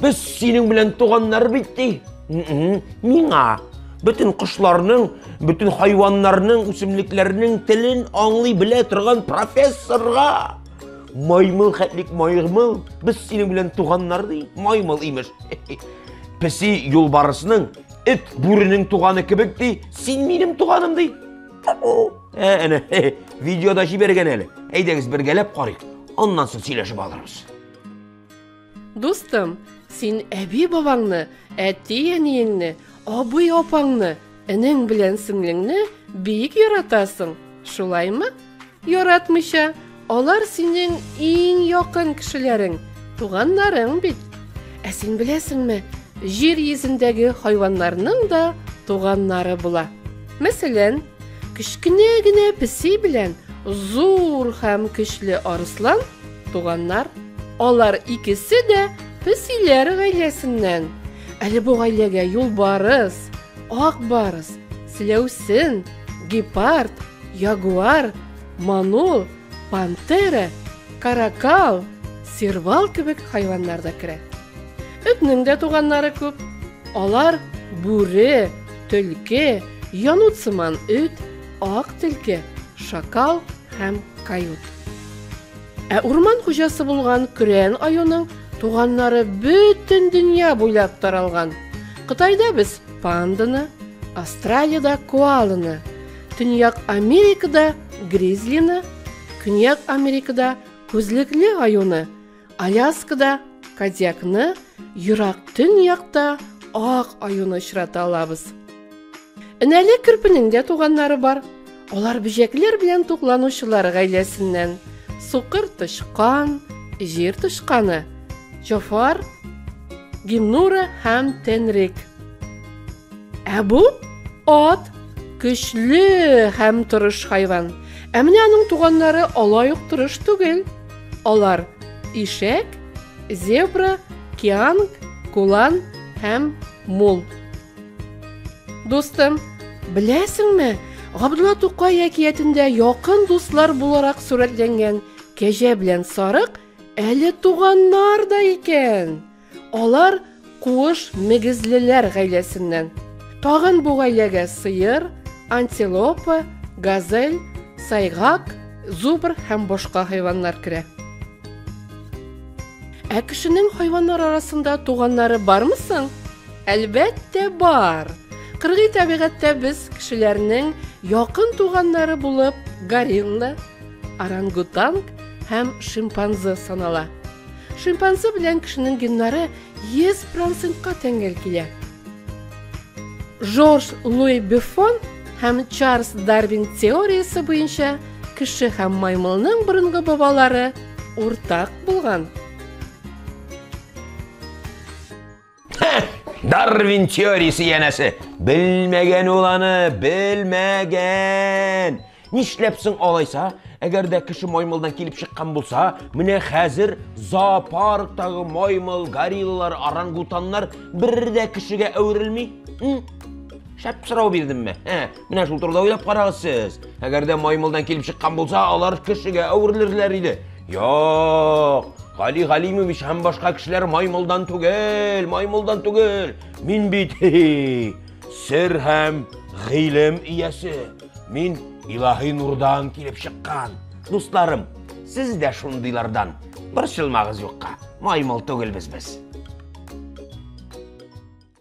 Без синең белән туганнар бит ди. Миңа бөтен кошларның, бөтен хайваннарның, үсемлекләрнең телен аңлый белә торган профессорга. Маймыл хәтлек маймыл, без синең белән туганнар ди. Маймыл имеш. Песи юлбарысның, эт бүренең туганы кебек ди. Син минем туганым ди. Ә, әнә, видеода җибәргән әле. Әйдәгез бергәләп карыйк. Аннан соң сөйләшеп алырбыз. Дустым, син әби-бабаңны, әти-әниеңне, абый-апаңны, энең белән сеңлеңне бик яратасың, шулаймы? Яратмыйча, алар синең иң якын кешеләрең, туганнарың бит. Ә син беләсеңме, җир йөзендәге хайваннарның да туганнары була. Мәсәлән, кечкенә генә песи белән зур һәм көчле арыслан Туганнар, алар икесе дә песиләр гаиләсеннән. Әле бу гаиләгә юлбарыс, ак барыс, селәүсен, гепард, ягуар, манул, пантера, каракал, сервал кебек хайваннар да керә. Этнең дә туганнары күп. Алар бүре, төлке, янут сыман эт, Ак тилке, шакал һәм кают. Ә урман хуҗасы булган Көрән аюның туганнары бөтен дөнья буйлап таралган. Кытайда без панданы, Австралиядә коаланы, Төньяк Америкада гризлины, Көньяк Америкада күзлекле аюны, Аляскада Кадиакны ерак төньякта ак аюны очрата алабыз. Энәле кирпинең дә туганнары бар. Алар бөҗәкләр белән тукланучылар гаиләсеннән. Сукыр тычкан, җир тычканы, Жофар, Гимнура һәм Тенрик. Ә бу ат көчле һәм тырыш хайван. Ә менә аның туганнары алай ук тырыш түгел. Алар, ишәк, зебра, кианг, кулан һәм мул. Дустым, беләсеңме, Габдулла Тукай әкиятендә якын дуслар буларак сурәтләнгән кәҗә белән сарык әле туганнар да икән. Алар куыш мегезлеләр гаиләсеннән. Тагын бу гаиләгә сыер, антилопа, газель, сайгак, зубр һәм башка хайваннар керә. Ә кешенең хайваннар арасында туганнары бармы соң? Әлбәттә, бар. Кыргый табигатьтә без кешеләрнең якын туганнары булып горилла, орангутанг һәм шимпанзе санала. Шимпанзе белән кешенең геннары 100%-ка тәңгәл килә. Жорж Луи Бюфон һәм Чарльз Дарвин теориясе буенча кеше һәм маймылның борынгы бабалары уртак булган. Дарвин теориясе янәсе. Белмәгән ул аны, белмәгән. Нишләп соң алайса? Әгәр дә кеше маймылдан килеп чыккан булса, менә хәзер зоопарктагы маймыл, гориллалар, орангутаннар бер дә кешегә әверелми. Шәп сорау бирдемме? Менә шул турыда уйлап карагыз сез. Әгәр дә маймылдан килеп чыккан булса, алар кешегә әверелерләр иде. Юк! Гали Галимович һәм башка кешеләр маймылдан түгел, маймылдан түгел. Мин бит сер һәм гыйлем иясе. Мин илаһи нурдан килеп чыккан. Дусларым, сез дә шундыйлардан. Борчылмагыз юкка. Маймыл түгелбез без.